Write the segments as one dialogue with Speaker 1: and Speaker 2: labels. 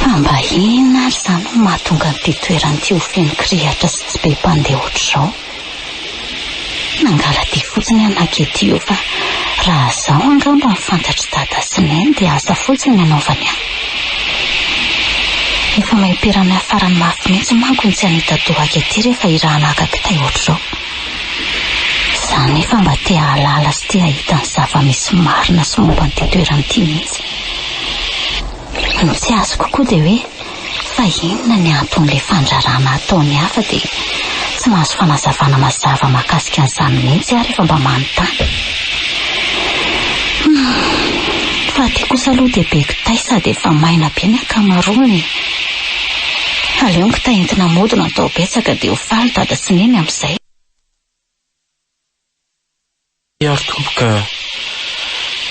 Speaker 1: Fa mba inona ary izany no mahatonga an'ity toerana ity ho feno kirihitra sy tsy be mpandeha ohatr'izao? Nangala-dia fotsiny aho nanketio fa raha izao angamba ny fantatr'i Dada sy Neny dia asa fotsiny ny anaovany ahy. Efa maimperana farany mafy mihitsy manko ny tsy hanita-doha ahy aty rehefa irahana haka kitay ohatr'izao. Za anefa mba te hahalala sy te hahita ny zava-misy marina sy momba an'ity toerana ity mihitsy. Ny tsy azoko koa dia hoe fa inona ny anton'ilay fandraràna ataon'ny hafa dia tsy mahazo fanazavana mazava mahakasika an'izany mihitsy aho rehefa mba manontany. Humm. Fa aty kosa aloha dia be kitay sady efa maina be ny ankamaroany e. Aleo ny kitay entina mody no atao betsaka dia ho faly dada sy neny amin'izay. Miaro
Speaker 2: Tompo ka!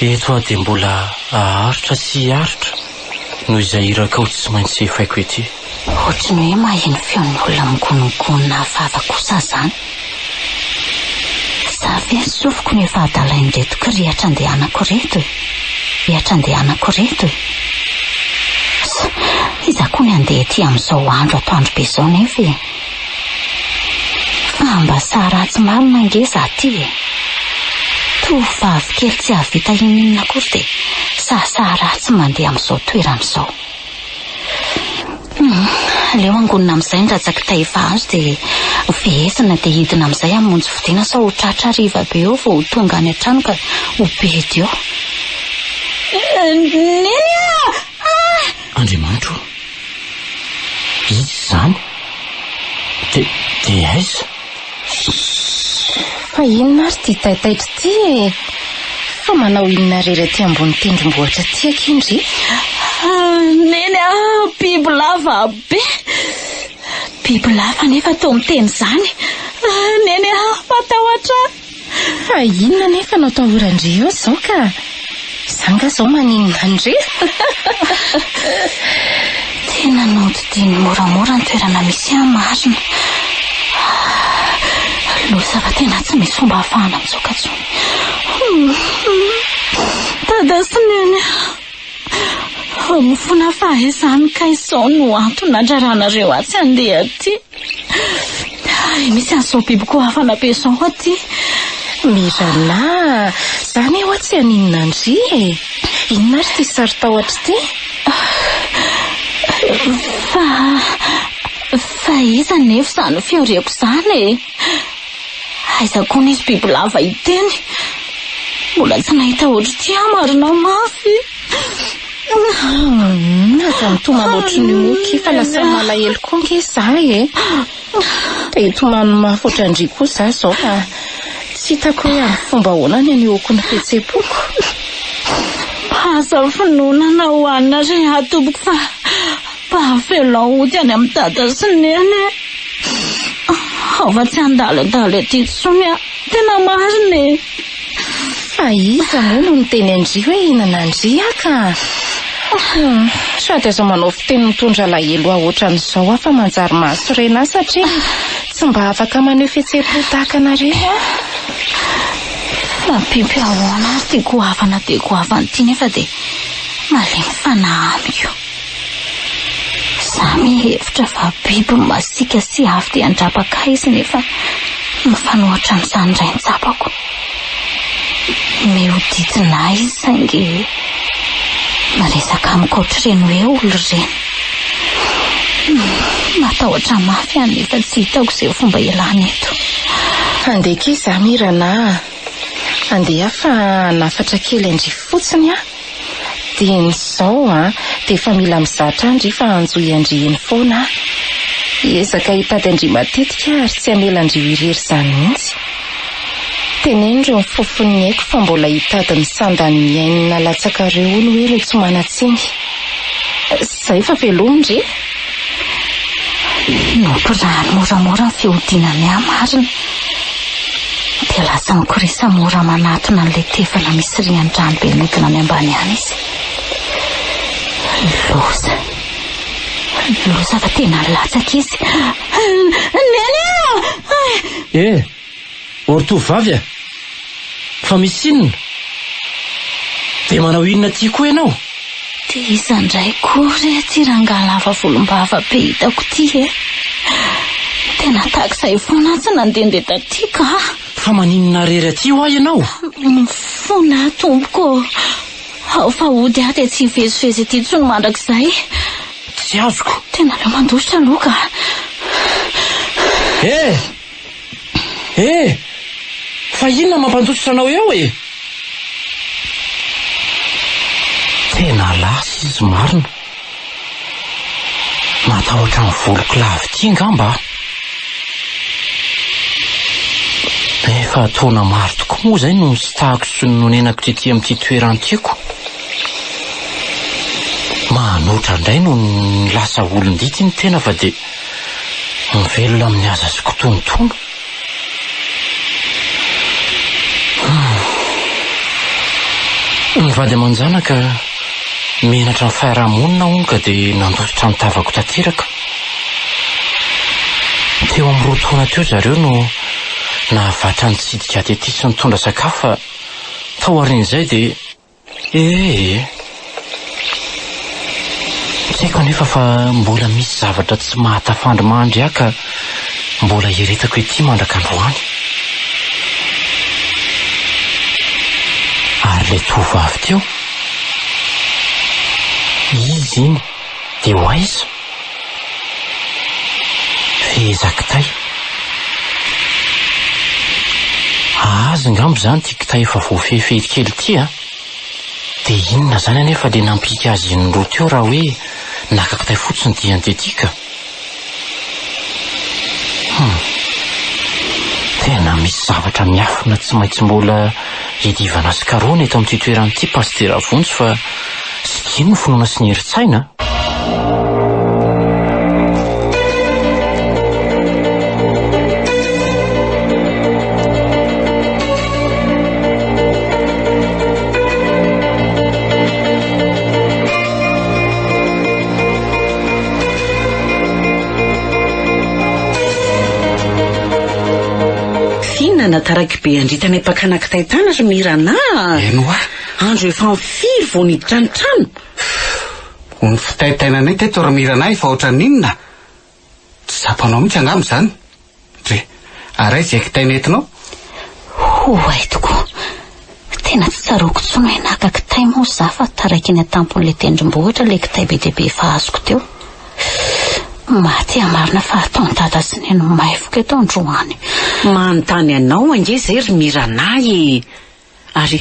Speaker 2: Eto aho dia mbola aharitra sy hiaritra noho izay hirakao tsy maintsy efaiko ety. Ohatry ny hoe
Speaker 1: maheno feon'ny olona mingonongonona hafahafa kosa aho izany. Za ve ry sofiko no efa adalain'ireto kirihitra andehanako ireto e! Rihatra andehanako ireto e! Sa iza koa ny handeha ety amin'izao andro atoandro be izao nefa e! Fa mba sahy ratsy marina ange za ty e! Toa vavy kely tsy hahavita inon'inona akory dia sahisahy ratsy mandeha amin'izao toerana izao. Aleo angonina amin'izay ny rajaki-tay efa azo dia ho fehezina dia hidina amin'izay amin'ny monjy fodiana sao ho tratra hariva be eo vao ho tonga any an-trano ka ho bedy eo. Neny ah!
Speaker 2: Andriamanitra o! Iza izany? Dia aiza?
Speaker 3: Fa inona ary ity taitaitra ity e? Fa manao inona irery aty ambony tendrombohitra aty akia ndry? Ah,
Speaker 1: neny ah, biby lava be. Biby lava nefa toa miteny izany. Ah, neny ah, matahotra ahy. Fa
Speaker 3: inona anefa no atahoran-dry eo izao ka? Izaho angaha izao maninona an-dry?
Speaker 1: Tena nodidiany moramora ny toerana misy ahy marina. Loza fa tena tsy misy fomba ahafahana mitsoaka intsony. Dada sy Neny a! Fona fa izany kay izao no antony nandraranareo atsy handeha aty. Hay misy an'izao biby koa hafana be izao aty. Mirana,
Speaker 3: za ne hoa tsy haninona an-dry e. Inona ary ity sarotahotra ity? Fa,
Speaker 1: fa iza anefa izany fihariako izany e? Aiza koa nisy bibilava iteny? Mbola tsy nahita ohatr'ity aho marina mafy.
Speaker 3: Aza mitomany ohatry ny moky fa lasa malahelo koa nge za e. Te hitomany mafy ohatran-dry koa za zao fa tsy hitako hoe amin'ny fomba ahoana ny anehoako ny fihetsem-poko.
Speaker 1: Aza finoana na ho anona re aho tompoko fa Fa avelao hody any amin'i Dada sy Neny e! Ao fa tsy handalindaly aty intsony aho. Tena marina e! Fa
Speaker 3: iza moa no niteny an-dry hoe hihinana an-dry aho ka? Hum, sady aza manao fiteny mitondra alahelo ahy ohatran'izao aho fa manjary mahasorena ahy satria tsy mba afaka maneho fihetseham-po tahaka anareo aho.
Speaker 1: Mampimpy ahoana ary ty goavana dia goavana ty nefa dia malemy fanahy amiko. Za mihevitra fa biby masiaka sy avo dia an-drapaka izy nefa mifanohitra amin'izany indray ny tsapako. Mihodidina ahy izy saingy miresaka amiko ohatr'ireny hoe olona ireny. Matahotra mafy aho nefa tsy hitako izay fomba hialana eto. Handeha
Speaker 3: akia za Mirana a! Andeha fa hanafatra kely an-drivo fotsiny aho. Dieny izao an, dia efa mila mizaha hatrany ry fa hanjo i Andrieny foana aho. Hiezaka hitady an-dry matetika aho ary tsy hamela an-dry ho irery izany mihitsy. Teneno ireo mifofo ny aiko fa mbola hitady ny sandan'ny ny ain'ny nalatsakareo hono hoe ireo tsy manan-tsiny. Izay fa veloma ndry e!
Speaker 1: Mbola moramora ny fihodinan'i Yah marina, dia lasa mikorisa mora manatona an'ilay tevana misy rian-drano be mihodina any ambany any izy. Loza. Loza fa tena latsaka izy. Neny a!
Speaker 2: Eh! O ry tovovavy a! Fa misy inona? Dia manao inona aty koa ianao? Dia iza
Speaker 1: indray koa re aty rangahy lava volombava be hitako ity e? Tena tahaka izay foana aho tsy nandehandeha taty kah! Fa maninona
Speaker 2: irery aty hoa ianao? Mifona
Speaker 1: aho tompoko ô! Ao fa hody aho dia tsy hivezivezy aty intsony mandrakizay! Tsy
Speaker 2: azoko! Tena aleo mandositra
Speaker 1: aloha kah! Eh!
Speaker 2: Eh! Fa inona mampandositra anao eo e? Tena lasa izy marina. Matahotra ny voloko lava ity angamba aho. Efa taona maro tokoa moa izay no nisitahako sy nonenako tety amin'ity toerana ity ko. Manoatra indray no lasa olon-dity ny tena fa dia. Mivelona amin'ny haza sy kitonotono. Ny vady aman-janaka menatra ny fiaraha-monina hono ka dia nandositra ny tavako tanteraka. Teo amin'ny roa taona teo zareo no nahavatra nitsidika aty aty sy nitondra sakafo fa taorian'izay dia. Ee. Tsy haiko anefa fa mbola misy zavatra tsy mahatafandry mandry ahy ka mbola hieretako ety mandraka androany. Ary ilay tovovavy teo? Izy iny dia ho aiza? Feheza kitay. Azy angamba izany ity kitay efa voafehifehy kely ity an! Dia inona izany anefa ilay nampihiaka azy iny roa teo raha hoe naka kitay fotsiny dia andeha ity ka! Hum. Tena misy zavatra miafina tsy maintsy mbola iadivana sy karohina eto amin'ity toerana ity Pasitera Vonjy fa. Zay no finoana sy ny herin-tsaina
Speaker 4: an! Fihinana taraky be andritanay mpakana kitay tany ry Mirana a! Eny hoa!
Speaker 5: Andro efa
Speaker 4: am firy vao niditra ny trano? Fff,
Speaker 5: ony fitaitainanay teto ry Mirana ahy fa ohatran'ny inona? Tsy tsapanao mihitsy angamba izany? Dre, ary aiza izay kitay nentinao? Oay
Speaker 1: tokoa, tena tsy tsaroako intsony hoe naka kitay moa za fa taraiky ny atampon'ilay tendrombohitra ilay kitay be dia be efa azoko teo. Mahate marina fa ataon'i Dada sy Neny maivoka eto androany. Manontany
Speaker 4: anao ange izay ry Mirana e! Ary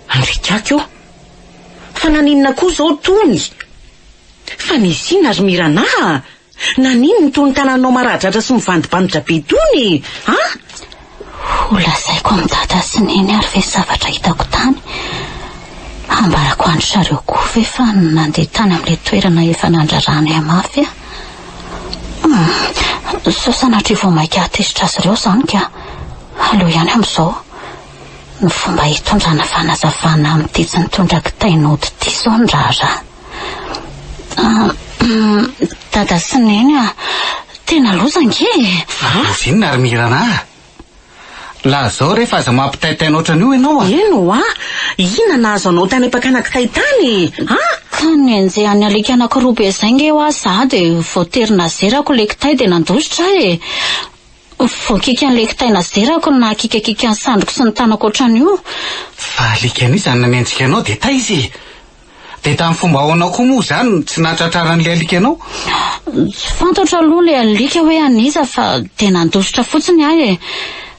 Speaker 4: andriaka aky ô! Fa naninona koa izao tony? Fa nisina ry Mirana a! Naninona itony tananao maradratra sy mivandibanditra be itony e? An? Ho
Speaker 1: lazaiko amin'i Dada sy Neny ary ve zavatra hitako tany? Hambarako an-dry zareo koa ve fa nandeha tany amin'ilay toerana efa nandraranay ahy mafy aho? Humm! Sao sanatria vao mainka hahatezitra azy ireo izany ka! Aleo ihany amin'izao. ny fomba hitondrana fanazavana amin'ity tsy nitondra kitay nody ity izao ny raharaha. Dada sy Neny a, tena loza ange e! Loza inona
Speaker 5: ry Mirana a? Lazao re fa aza mampitaitaina ohatran'io ianao a! Eny hoa,
Speaker 4: inona nahazo anao tany am-pakana kitay tany e? A! Ka
Speaker 1: nenjehan'ny alika anankiroa be izay ange hoa za dia voatery nazerako ilay kitay dia nandositra aho e! Voakiky an'ilay kitay nazerako ny nahakikakika ny sandriko sy ny tanako ohatran'io. Fa alika
Speaker 5: anio izany nanenjika anao dia taiza e? Dia tamin'ny fomba ahoana koa moa izany no tsy nahatratraran'ilay alika anao? Tsy
Speaker 1: fantatro aloha ilay alika hoe an'iza fa dia nandositra fotsiny aho e.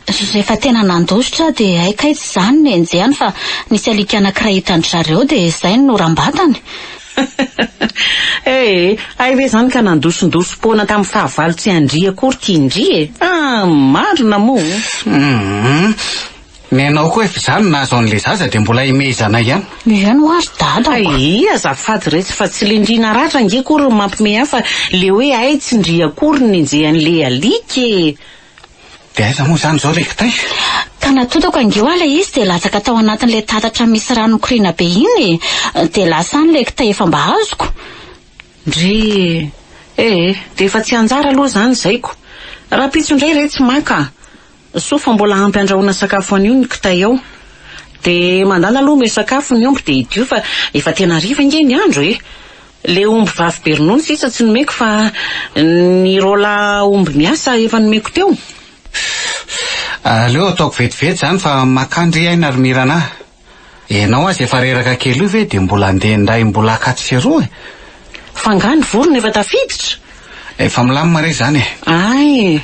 Speaker 1: Rehefa tena nandositra aho dia hay kay tsy izaho no nenjehany fa nisy alika anankiray hitan-dry zareo dia izay no norambatany. Ee,
Speaker 4: hay ve izany ka nandosondosom-poana tamin'ny fahavalo tsy an-dry akory ity ndry e! Ah, marina moa! Hum, ny
Speaker 5: anao koa efa izany nahazo an'ilay zaza dia mbola himehezana ihany. Mihaino hoa ry dada
Speaker 1: ô! Ee, azafady retsy
Speaker 4: fa tsy le ndry naratra ange akory no mampimehy ahy fa le hoe hay tsy ndry akory no nenjehan'ilay alika e!
Speaker 5: Dia aiza moa izany izao Rekitay? Ka natotako
Speaker 1: ange hoa ilay izy dia latsaka tao anatin'ilay tatatra misy rano mikoriana be iny e! Dia lasa any ilay kitay efa mba azoko. Ndry!
Speaker 4: Ee, dia efa tsy anjara aloha izany izaiko. Rahampitso indray re tsy maka. Soa fa mbola ampy andrahoana sakafo anio ny kitay ao. Dia mandana aloha omeo sakafo ny omby dia hidio fa efa tena hariva ange ny andro e! Le omby vavy be ronono sisa tsy nomeko fa ny rola omby miasa efa nomeko teo. Fff, aleo
Speaker 5: ataoko vetivety zany fa makany ry aina ry Mirana a! Enao aza efa reraka kely io ve de mbola andeha ndray mbola akato sy eroa e! Fa nga
Speaker 4: ny vorona efa tafiditra? Efa milamina
Speaker 5: re zany e! Ay!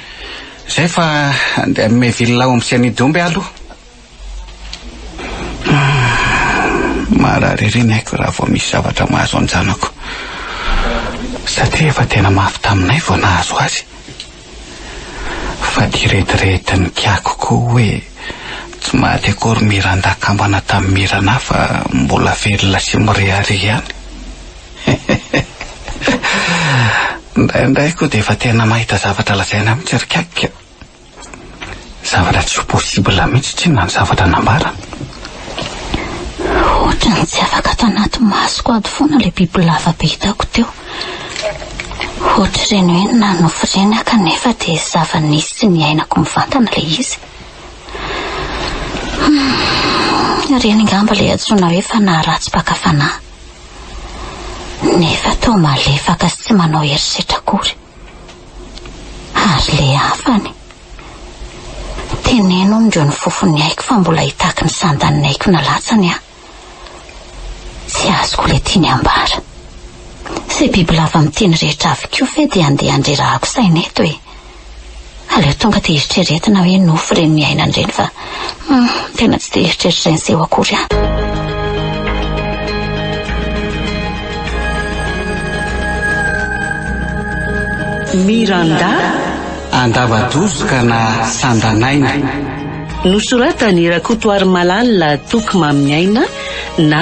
Speaker 4: Zay fa
Speaker 5: andeha amime villa omby sy anidy omby alo. Marary ery ny aiko raha vao misy zavatra mahazo an-janako satria efa tena mafy taminay vao nahazo azy. Fa dia rediredin'ny kiako koa hoe tsy maty akory Miranda kambana tamin'i Mirana fa mbola velona sy mirehareha ihany. Indraindray koa dia efa tena mahita zavatra lazaina mihitsy ry kiakika. Zavatra tsy ho possible mihitsy tsinona ny zavatra nambarany. Ohatran'ny
Speaker 1: tsy afaka tanaty masoko ato foana ilay bibilava be hitako teo. Ohatr'ireny hoe nanofy ireny aho kanefa dia zava-nisy tsy niainako mivantana ilay izy. Hmm, ireny angamba ilay antsoina hoe fanahy ratsy mpaka fanahy. Nefa toa malefaka sy tsy manao herisetra akory. Ary le hafany. Teneno amindreo ny fofon'ny aiko fa mbola hitaky ny sandan'ny aiko nalatsany aho. Tsy azoko le tiany ambara. Ze bibilava miteny rehetra avy koa ve dia andeha handrerahako saina eto e. Aleo tonga dia eritreretina hoe nofy ireny miainana ireny fa hum, tena tsy dia eritreritra ireny seho akory aho.
Speaker 4: Miranda Andavadozo
Speaker 5: ka na Sandanaina.
Speaker 4: Nosoratan'i Rakotoarimalala Toky Maminiaina na.